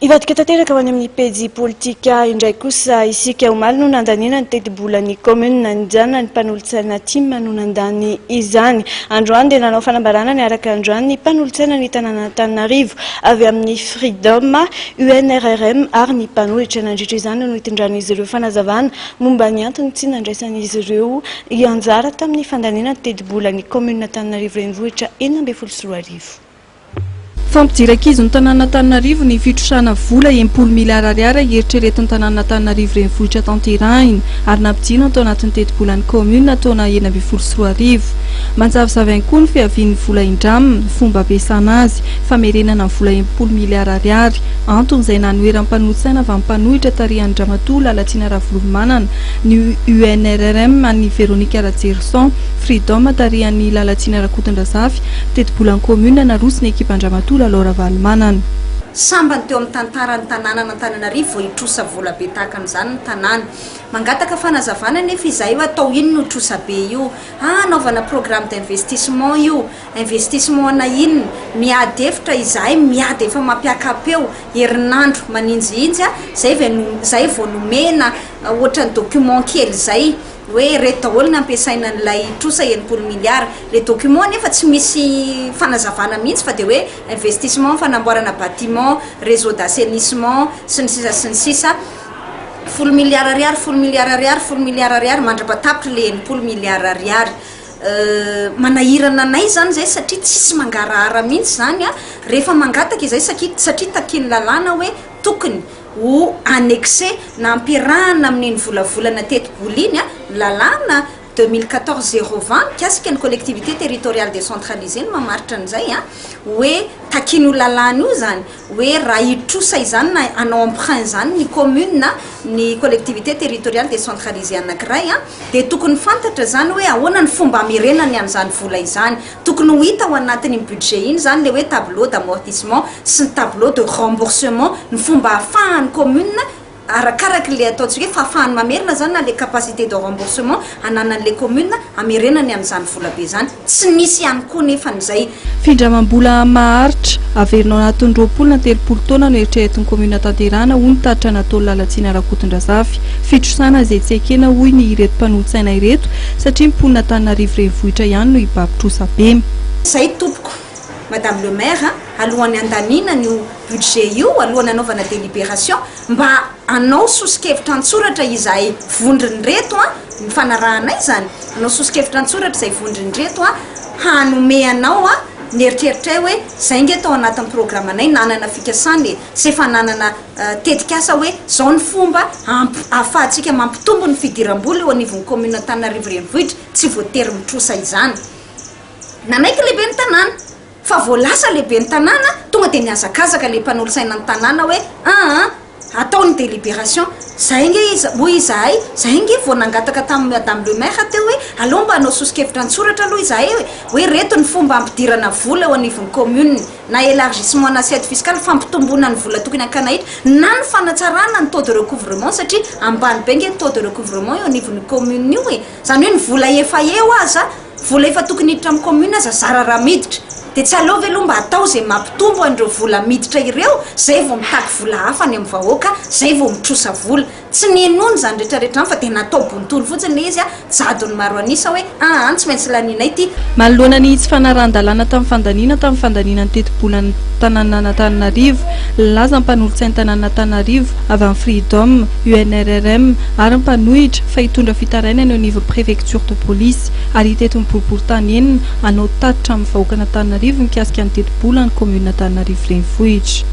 Hivadika tanteraka ho any amin'ny pejy politika indray kosa isika. Omaly no nandaniana ny tetibolan'ny kaominina nijanona ny mpanolotsaina Tim no nandany izany. Androany dia nanao fanambarana niaraka androany ny mpanolotsaina ny tanànan'Antananarivo avy amin'ny Freedom, UNRRM ary ny mpanohitra. Nandritra izany no nitondran'izy ireo fanazavana momba ny antony tsy nandraisan'izy ireo anjara tamin'ny fandaniana ny tetibolan'ny kaominina Antananarivo Renivohitra enina ambin'ny folo sy roa arivo. Fampijery ankizy ny tanànan'Antananarivo ny fitrosana vola enimpolo miliara ariary eritreretin'ny tanànan'Antananarivo renivohitra tanterahina ary nampijinina tao anatin'ny tetibolan'ny kaominina taona enina ambin'ny folo sy roa arivo. Manjavozavo ihany koa ny fiavian'ny vola indram, fomba ampiasana azy, famerenana ny vola enimpolo miliara ariary, antony izay nanoheran'ny mpanolo-tsaina avy amin'ny mpanohitra tarihan-dRamatoa Lalatsina Ravolomanana ny UNRRM an'i Véronique Rajerison, Freedom tarihan'i Lalatsina Rakotondrazafy, Tetibolan'ny kaominina naroso ny ekipan-dramatoa Lalao Ravalomanana. Sambany teo amin'ny tantaran'ny tanànan'Antananarivo vao hitrosa vola be tahaka an'izany ny tanàna. Mangataka fanazavana anefa izahay hoe atao inona io trosa be io? Ha anaovana programme d'investissement io? Investissement ana inona? Miady efitra izahay miady efa mampiakapeo herinandro maninjihinjy a, zay vao nomena ohatran'ny document kely zay. hoe ireto daholo no ampiasaina an'ilay trosa enimpolo milliards. Ilay document anefa tsy misy fanazavana mihitsy fa dia hoe investissement fanamboarana bâtiment, réseau d'assainissement sy ny sisa sy ny sisa. Folo milliards ariary, folo milliards ariary, folo milliards ariary, mandra-patapitra ilay enimpolo milliards ariary. Manahirana anay izany izay satria tsisy mangarahara mihitsy izany rehefa mangataka izay satria takian'ny lalàna hoe tokony. Ho annexer, na ampiarahana amin' iny volavolana tetibola iny, ny lalàna deux mille quatorze zéro vingt mikasika ny collectivités territoriales décentralisées no mamaritra an'izay hoe takiana io lalàna io izany hoe raha hitrosa izany na hanao emprunt izany ny commune na ny collectivité territoriale décentralisée anankiray dia tokony fantatra izany hoe ahoana ny fomba hamerenany an'izany vola izany. Tokony ho hita ao anatin'iny budget iny izany ilay hoe tableau d'amortissement sy ny tableau de remboursement, ny fomba ahafahan'ny commune, arakaraka ilay ataontsika hoe fahafahany mamerina izany na ilay capacité de remboursement ananan'ilay commune hamerenany an'izany volabe izany. Tsy nisy ihany koa nefa ny izay. Findramam-bola maharitra, averina ao anatin'ny roapolo na telopolo taona no eritreretin'ny commune hatanterahana, hoy ny tatitra an'Atoa Lalatsina Rakotondrazafy. Fitrosana izay tsy ekena, hoy ny ireto mpanolo-tsaina ireto, satria ny mponina Antananarivo renivohitra ihany no hibaby trosa bem. Zay tompoko. Madame le maire a, alohan'ny handaminana io budget io, alohan'ny hanaovana délibération, mba anao soso-kevitra an-tsoratra izahay vondrony reto a, ny fanarahanay izany, anao soso-kevitra an-tsoratra izay vondrony reto a, hanome anao a, ny eritreritray hoe zay nge tao anatin'ny programanay nanana fikasana e, tsy efa nanana tetikasa hoe izao ny fomba ahafahantsika mampitombo ny fidiram-bola eo anivon'ny kaominina Antananarivo Renivohitra, tsy voatery mitrosa izany. Nanaiky lehiben'ny tanàna fa vao lasa lehiben'ny tanàna tonga dia nihazakazaka ilay mpanolotsaina ny tanàna hoe aa atao ny deliberation izay ange izy hoy izahay izay ange vao nangataka tamin'ny madame le maire teo hoe aleo mba hanao soso-kevitra an-tsoratra aloha izahay hoe hoe reto ny fomba hampidirana vola eo anivon'ny kaominina na élargissement na assiette fiscale, fampitomboana ny vola tokony hakana hetra, na ny fanatsarana ny taux de recouvrement satria ambany be nge ny taux de recouvrement eo anivon'io commune io e! Zany hoe ny vola efa eo aza, vola efa tokony hiditra amin'ny commune aza zara raha miditra! Dia tsy aleo ve aloha mba atao izay mampitombo an'ireo vola miditra ireo, izay vao mitaky vola hafa any amin'ny vahoaka, izay vao mitrosa vola. Tsy ninoany izany rehetrarehetra izany fa dia natao bontolo fotsiny ilay izy, jadony maro an'isa hoe aa tsy maintsy lanianay ity. Manoloana ny tsy fanarahan-dalàna tamin'ny fandaniana tamin'ny fandaniana ny tetibolan'ny tanànan'Antananarivo, nilaza ny mpanolotsain'ny tanànan'Antananarivo avy amin'ny Freedom, UNRRM, ary ny mpanohitra fa hitondra fitarainana eo anivon'ny préfecture de police ary hitety ny boriborintany enina hanao tatitra amin'ny vahoakan'Antananarivo mikasika ny tetibolan'ny kaominina Antananarivo Renivohitra.